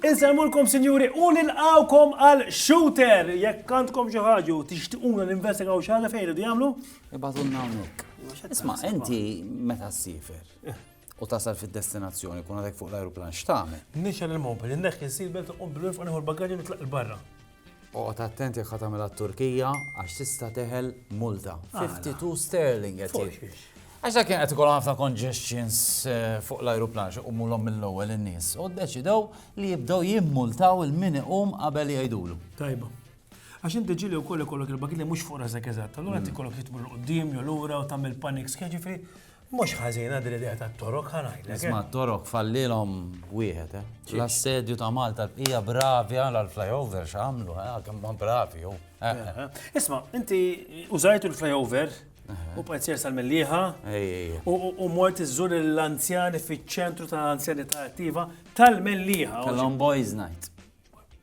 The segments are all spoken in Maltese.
Inselmulkom sinjuri u nilqawkom għal shooter jekk għandkom xi ħaġa u tixtiquna ninvestigaw xi ħaġa fejn idu jagħmlu. Ibgħatulna hawnhekk. Isma' inti meta ssifer? u tasal fid-destinazzjoni, kun għadek fuq l-ajruplan, x'tagħmel? Nixel il-mobil, inneħħi s-seatbelt, nqum bil-wif u nieħu l-bagaġġi nitlaq il-barra. Oqgħod attent jekk ħatamilha t-Turkija għax tista' teħel multa. 52 sterling qed jgħid. Għax dak kien qed ikollhom ħafna congestions eh, fuq l-ajruplan xi qumulhom mill-ewwel in-nies u ddeċidew li jibdew jimmultaw il-min iqum qabel jgħidulu. Tajba. Għax inti ġili u koll ikollok il-bagit li mux fuq rasek eżatt, allura inti kollok li tmur l-qoddim, jew l-ura, u tamil panik skeġi fri, mux ħazina dil idea ta' torok ħanajlek. Eh. Isma torok fallilom wieħed, eh. L-assedju ta' Malta l-bqija bravi għal l-flyover xamlu, eh, għakem ma bravi, u. Eh, Isma, inti użajtu l-flyover, u pajzjer sal-milliħa, u mort iżżur l-anzjani fiċ-ċentru tal-anzjanità attiva tal-milliħa. Tal-on boys night.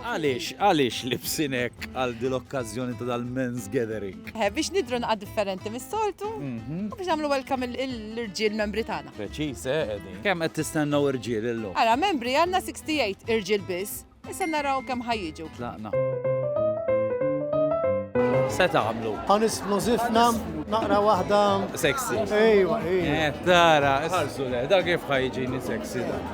Għaliex, għaliex libsin hekk għal dil-okkażjoni ta' dal-men's gathering? Eh, biex nidru naqgħad differenti mis-soltu, mhm. u biex nagħmlu welcome l-irġiel membri tagħna. Preċiż, eh, Edi. Kemm qed tistennew irġiel illum? Ara, membri għandna 68 irġiel biss, issa naraw kemm ħajjiġu. Tlaqna. Se tagħmlu. Ħanis f'nużifna naqra waħda. Sexy. Ejwa, ejwa. Eh, tara, ħarsu le, da kif ħajġini sexy da.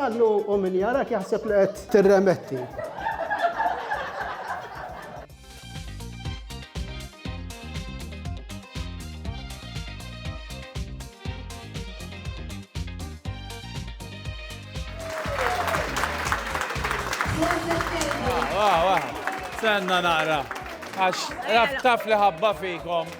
Għallu u min jarak jaħseb li qed tirremetti. Senna naqra. Għax, taf li ħabba fikom.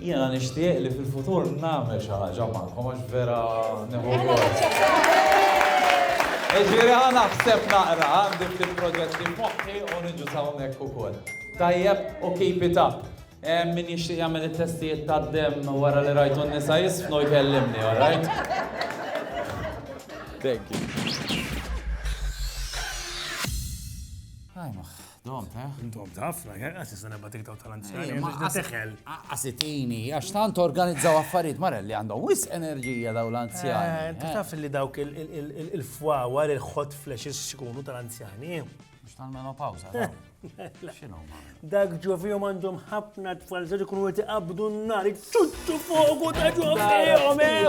Jiena nixtieq li fil-futur nagħmel xi ħaġa magħkom għax vera nieħu gost. Jiġifieri ħa naħseb naqra, għandi ftit proġetti f'moħħi u niġu s'hawnhekk ukoll. Tajjeb u keep it up. Hemm min jixtieq jagħmel it-testijiet tad-demm wara li rajtu n-nisa jiżfnu jkellimni, all right? Thank you. Ajmoh. Domt, eh? Domt, ħafna, għas jista nebba tiktok tal-anzjani, għas teħel. Għasitini, għax tant organizzaw affarijiet mara li għandhom wis enerġija daw l-anzjani. Eh, eh? Taf li dawk il-fwawar, il-hot flashes xkunu tal-anzjani. Mux tal-menopawza, xinu Dak ġovijom għandhom ħafna tfal, zaġi kunu għet iqabdu n-nar, tuttu fogu ta' ġovijom, eh?